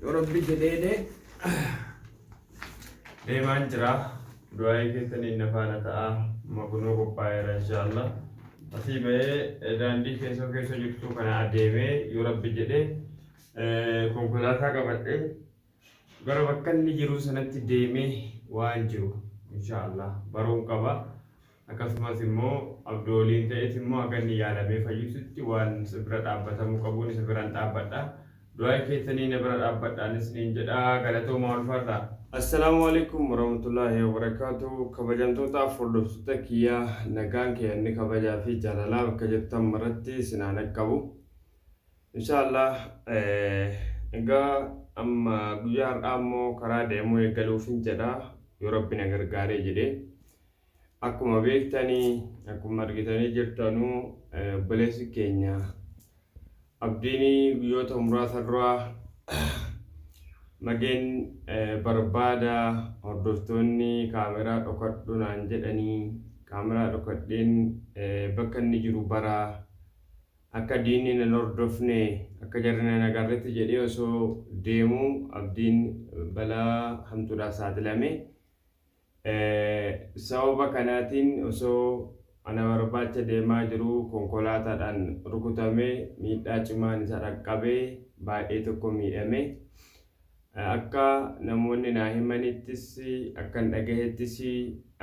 Yoo rabbi jedheene deemaan jira du'aa'ii keessaniin na faana ta'a makunoo qophaa'eera inshaallah asii ba'ee daandii keessoo keessa jirtu kana adeemee yoo rabbi jedhe konkolaataa qabadhe gara bakka inni jiru sanatti deemee waan jiru inshaallah baruun qaba. Akkasumas immoo abdoo waliin ta'eeti immoo haga inni yaalamee fayyututti waan isa bira dhaabbatamuu qabuun isa biran dhaabbadha. Du'aayi keessanii na bira dhaabbadhaan isiniin jedha. Galatoomaa ulfaadhaa. Assalamualaikum warahmatullahi wabarakatuh kabajamtootaaf hordoftoota kiyya nagaan keeyanni kabajaa fi jaalalaa bakka jirtan maratti isin haa naqqabu inshaallah egaa amma guyyaa har'aa immoo karaa deemuu eegaluufin jedha yoo rabbi na gargaaree jedhee Akkuma beektani akkuma argitanii jirtanu obboleessi keenya abdiini guyyoota muraasa dura mageen barbaada hordoftoonni kaameraa dhokadhu naan jedhanii kaameraa dhokadheen bakka inni jiru bara akka diinni nan hordofne akka jarri nan agarretti jedhee osoo deemu abdiin balaa hamtuudhaaf saaxilame. Sababa kanaatiin osoo ana barbaacha deemaa jiruu konkolaataadhaan rukutamee miidhaa cimaan isa dhaqqabee baay'ee tokko miidhame. Akka namoonni naa himanittis akkan dhagahettis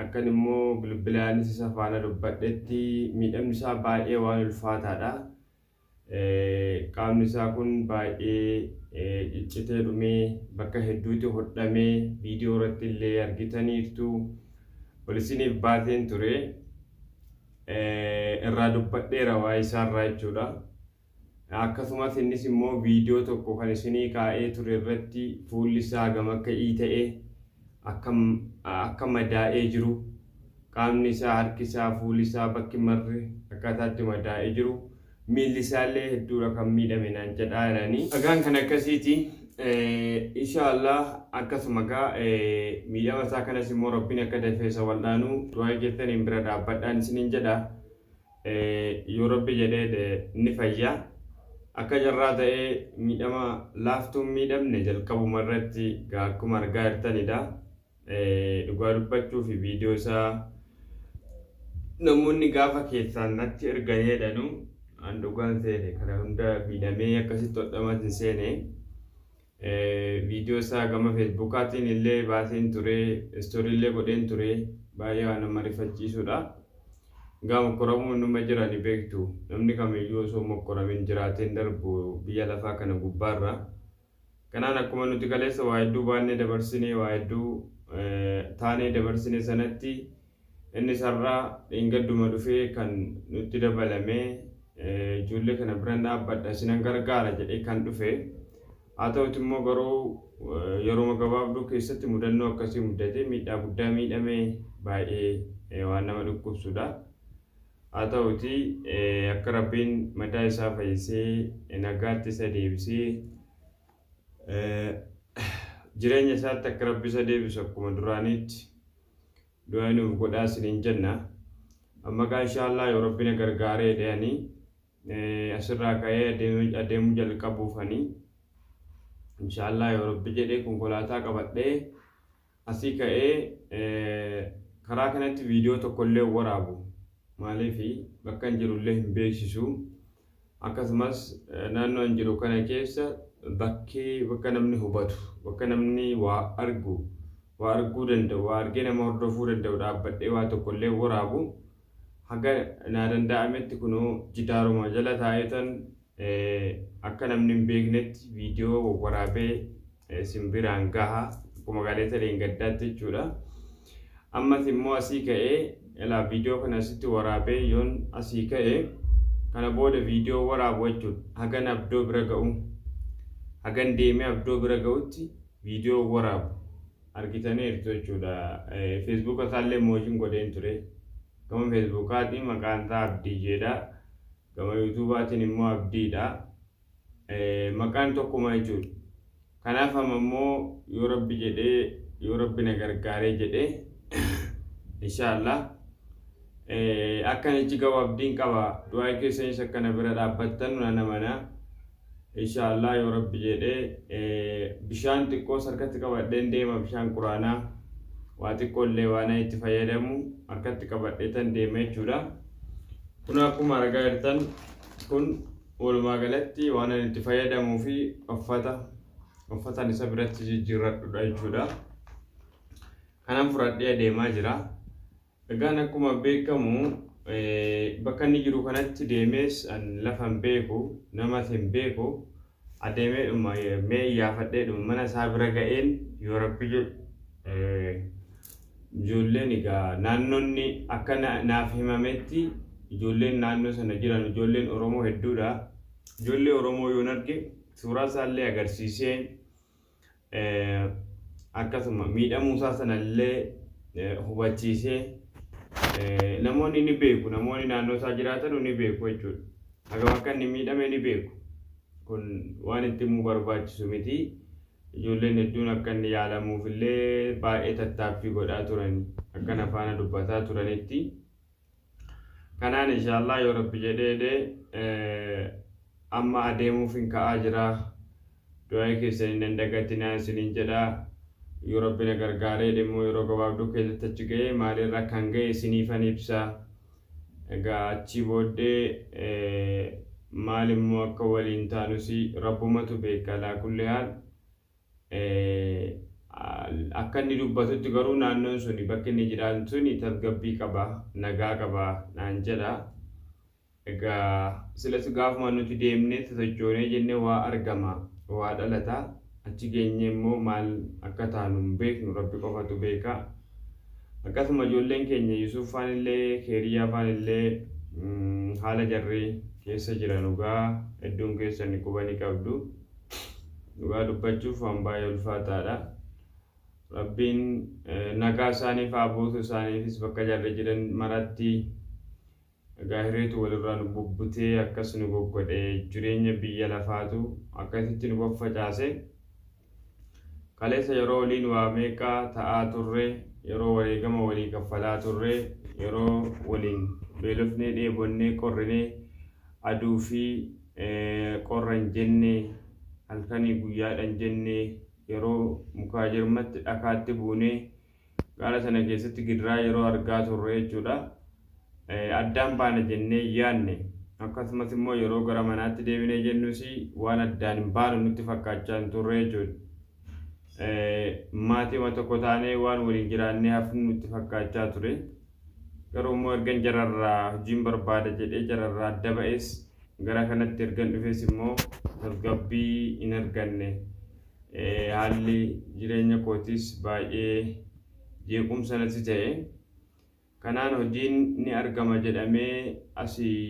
akkan immoo bilbilaanis isa faana dubbadhetti miidhamni isaa baay'ee waan ulfaataadha. qaamni isaa kun baay'ee ciccitee dhumee bakka hedduutti hodhamee viidiyoo irratti illee argitaniirtu ol isiniif baateen ture irraa dubbadheera waa isaarraa jechuudha. Akkasumas innis immoo viidiyoo tokko kan isinii kaa'ee ture irratti fuulli isaa gama akka ii ta'e akka akka madaa'ee jiru qaamni isaa harki isaa fuuli isaa bakki marri akkaataa itti madaa'ee jiru miilli isaallee hedduudha kan miidhame naan jedhaa jedhanii dhagaan kan akkasiiti inshaallah akkasuma gaa miidhama isaa kanas immoo rabbiin akka dafee isa wal'aanu du'aa keessaniin bira dhaabbadhaan isiniin jedha yoo rabbi jedhee ni fayya. Akka carraa ta'ee miidhama laaftuun miidhamne jalqabuma irratti gaa akkuma argaa jirtanidha. Dhugaa dubbachuuf viidiyoo isaa namoonni gaafa keessaan natti erganii jedhanu an dhugaan seene kana hunda miidhamee akkasitti hodhamatin seene. Viidiyoo isaa gama feesbuukaatiin illee baaseen ture, istoorii illee godheen ture. Baay'ee waan nama rifachiisudha. Gaa mokkoramuun numa jira ni beektu. Namni kamiyyuu osoo mokkoramin jiraateen darbu biyya lafaa kana gubbaarra. Kanaan akkuma nuti kaleessa waa hedduu baannee dabarsine, waa hedduu taanee dabarsine sanatti Innis har'a dheengadduma dhufe kan nutti dabalame ijoollee kana biran dhaabbadha isinan gargaara jedhee kan dhufe haa ta'uti immoo garuu yeruma gabaabduu keessatti mudannoo akkasii muddatee miidhaa guddaa miidhame baay'ee waan nama dhukkubsudha. Haa ta'uti akka rabbiin madaa isaa fayyisee nagaatti isa deebisee jireenya isaatti akka rabbi isa deebisu akkuma duraaniitti du'aa nuuf godhaa isiniin jenna amma gaa inshaallah yoo rabbi na gargaaree dhayanii asirraa ka'ee adeemuu jalqabuufanii inshaallah yoo rabbi jedhee konkolaataa qabadhee asii ka'ee karaa kanatti viidiyoo tokkollee waraabu maaliif bakka hin jirullee hin beeksisu akkasumas naannoo hin jiru kana keessa bakkee bakka namni hubatu bakka namni waa argu waa arguu danda'u waa argee nama hordofuu danda'u dhaabbadhee waa tokkollee waraabu haga naa danda'ametti kunoo jidaaruma jala taa'eetan akka namni hin beeknetti viidiyoo wawwaraabee isin biraan gaha akkuma gaalee talee hin gaddaatti jechuudha. Ammas immoo asii ka'ee ilaa viidiyoo kana asitti waraabee yoon asii ka'e kana booda viidiyoo waraabu jechuun hagan abdoo bira ga'u hagan deemee abdoo bira ga'utti viidiyoo waraabu argitaniirtu jechuudha. Feesbuuka isaallee moojiin godheen ture. Gama feesbuukaatiin maqaan isaa Abdii jedha. gama yuutuubaatiin immoo abdiidha. Maqaan tokkuma jechuudha. Kanaaf amma immoo yoo rabbi jedhee yoo rabbi na gargaaree jedhee inshaallah akkan ichi gahu abdiin qaba. Du'aa keessanis akka na bira dhaabbattan nan amana. Insha Allah yoo rabbi jeedhe bishaan xiqqoos harkatti qabadheen deema bishaan quraanaa waa xiqqoo illee waana itti fayyadamu harkatti qabadheetan deema jechuudha kun akkuma argaa jirtan kun walumaa galatti waan ani itti fayyadamuu fi uffata uffatan isa biratti jijjiirradhudha jechuudha kanan fudhadhee adeemaa jira Egaan akkuma beekamu bakka inni jiru kanatti deemees an lafa hin beeku, namas hin beeku. Adeemeedhuma mee iyyaafadheedhuma mana isaa bira ga'een yoo rabbi jedhe ijoolleen egaa naannoonni akka naaf himametti ijoolleen naannoo sana jiran ijoolleen Oromoo hedduudha. Ijoollee Oromoo yoon arge suuraa isaallee agarsiisee akkasuma miidhamuu isaa sana illee hubachiisee namoonni ni beeku namoonni naannoo isaa jiraatan ni beeku jechuudha. Hagam akka inni miidhame ni beeku. Kun waan itti himuu barbaachisu miti. Ijoolleen hedduun akka inni yaalamuuf illee baay'ee tattaaffii godhaa turani. Akka na faana dubbataa turanitti. Kanaan inshaallah yoo rabbi jedheedhe amma adeemuufin ka'aa jira. Du'aa'ii keessan hin dagatinaa isiniin jedha. Yoo rabbi na gargaareedhe immoo yeroo gabaabduu keessatti achi ga'ee maaliirra akkan ga'e isiniifan ibsa. Egaa achii booddee maal immoo akka waliin taanus rabbumatu beeka alaa kulli haal. Akka inni dubbatutti garuu naannoon suni bakki inni jiraatu suni tasgabbii qaba, nagaa qaba naan jedha. Egaa silas gaafuma nuti deemnee sosochoonee jennee waa argama, waa dhalata. Achi geenyee immoo maal akka taanu hin beeknu rabbi qofatu beeka. Akkasuma ijoolleen keenya Yusuuf faan illee Keeriyyaa faan illee haala jarri keessa jiran dhugaa hedduun keessan quba ni qabdu. dhugaa dubbachuuf waan baay'ee ulfaataadha. Rabbiin nagaa isaaniif haa buusu isaaniifis bakka jarri jiran maratti egaa hireetu walirraa nu bubbutee akkas nu goggodhe jireenya biyya lafaatu akkasitti nu faffacaase. Kaleessa yeroo waliin waa meeqaa ta'aa turre yeroo wareegama walii kaffalaa turre yeroo waliin beelofnee dheebonnee qorrinee aduu fi qorra hin jenne, halkanii guyyaadha hin jenne, yeroo mukaa jirmatti dhakaatti buune, gaara sana keessatti gidiraa yeroo argaa turre jechuudha. Addaan baana jennee yaadne. Akkasumas immoo yeroo gara manaatti deebinee jennus waan addaan hin baanu nutti fakkaachaa hin turre jechuudha. Maatima tokko taanee waan waliin jiraannee hafnu nutti fakkaachaa ture. Garuu immoo ergan jararraa hojiin barbaada jedhee jararraa adda ba'es Gara kanatti ergan dhufes immoo tasgabbii hin arganne. Haalli jireenya kootis baay'ee jeequmsa natti ta'e. Kanaan hojiin ni argama jedhamee asii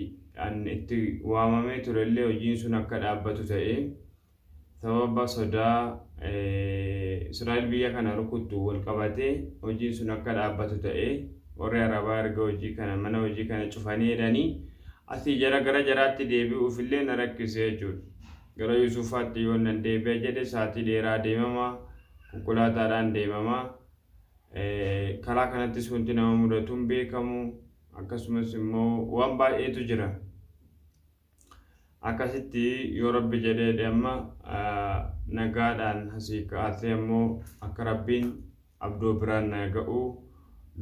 an itti waamamee turellee hojiin sun akka dhaabbatu ta'e. Sababa sodaa Israa'el biyya kana rukuttu wal qabatee hojiin sun akka dhaabbatu ta'e. Warri Arabaa erga hojii kana mana hojii kana cufanii jedhanii asii jara gara jaraatti deebi'uuf illee na rakkise jechuudha. Gara Yusufaatti yoo nan deebi'a jedhe saatii dheeraa deemama konkolaataadhaan deemama. Karaa kanattis wanti nama mudatu hin beekamu akkasumas immoo waan baay'eetu jira. Akkasitti yoo rabbi jedheedhe amma nagaadhaan asii ka'aatee ammoo akka rabbiin abdoo biraan naa ga'u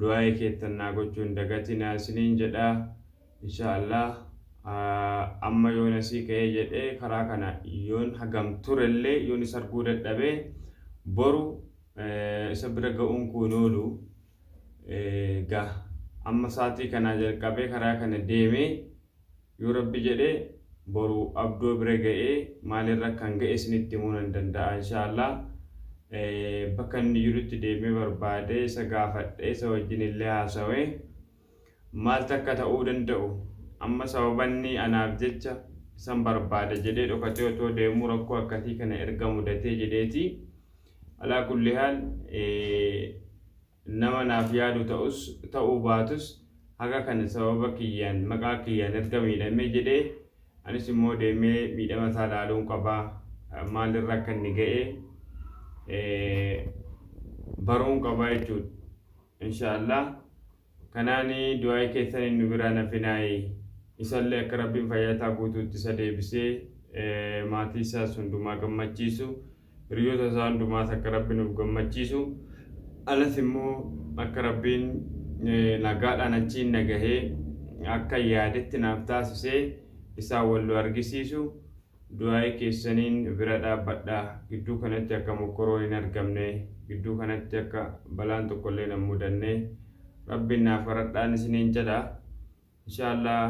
du'aa'ee keettan naa gochuu hin dagatinaa isiniin jedha insha allah amma yoon asii ka'ee jedhee karaa kana yoon hagam turellee yoon isa arguu dadhabee boru isa bira ga'uun koo hin oolu ga amma saatii kanaa jalqabee karaa kana deemee Yoo Rabbi jedhe boru Abdoo bira ga'ee maalirra akkan ga'e isinitti himuu nan danda'a inshaa Allaah. Bakka inni jirutti deemee barbaadee isa gaafadhee isa wajjin illee haasawee maaltu akka ta'uu danda'u amma sababa inni anaaf jecha isan barbaada jedhee dhokatee otoo deemuu rakkoo akkasii kana erga mudatee jedheeti. Alaa kulli haal nama naaf yaadu ta'us ta'uu baatus haga kan sababa kiyyaan maqaa kiyyaan erga miidhamee jedhee anis immoo deemee miidhama isaa laaluun qaba maalirra akka inni ga'e baruun qaba jechuudha. Inshaallah kanaan du'aa'ii keessan inni biraa nafinaayi isallee akka rabbiin fayyaa isaa guutuutti isa deebisee maatii isaas hundumaa gammachiisu. Hiriyoota isaa hundumaas akka Rabbi nuuf gammachiisu alas immoo akka Rabbiin nagaadhaan achiin nagahee akka yaadetti naaf taasisee isaan wal nu argisiisu du'aa'ii keessaniin bira dhaabbadha. Gidduu kanatti akka mokkoroon hin argamne, gidduu kanatti akka balaan tokkollee hin mudanne Rabbiin naaf kadhadhaan isiniin jedha. Inshallah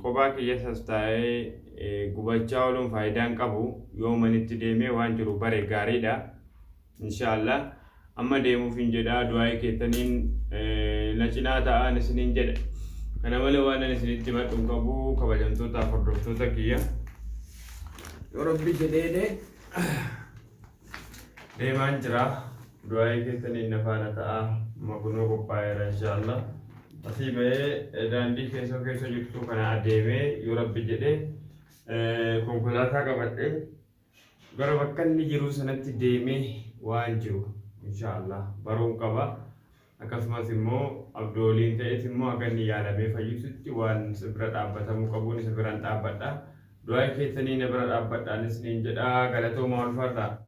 qophaa kiyyasas taa'ee gubachaa ooluun faayidaa hin qabu. Yoo manitti deemee waan jiru bare gaariidha. Inshallah amma deemuufin jedha du'aa'ii keettaniin na cinaa ta'aan isiniin jedha. Kana malee waanan isinitti himadhu hin qabu kabajamtootaaf hordoftoota kiyya. Yoo Rabbi jedheedhe. deemaan jira du'aa'ii keessaniin na faana ta'a amma kunoo qophaa'eera inshaallah asii ba'ee daandii keessoo keessa jirtu kana adeemee yoo rabbi jedhe konkolaataa qabadhe gara bakka inni jiru sanatti deemee waan jiru inshaallah baruun qaba akkasumas immoo abdooliin ta'eet immoo akka inni yaalamee fayyisutti waan isa bira dhaabbatamuu qabuun isa biraan dhaabbadha du'aa'ii keessanii na bira dhaabbadhaanis niin jedha galatoomaa ulfaadhaa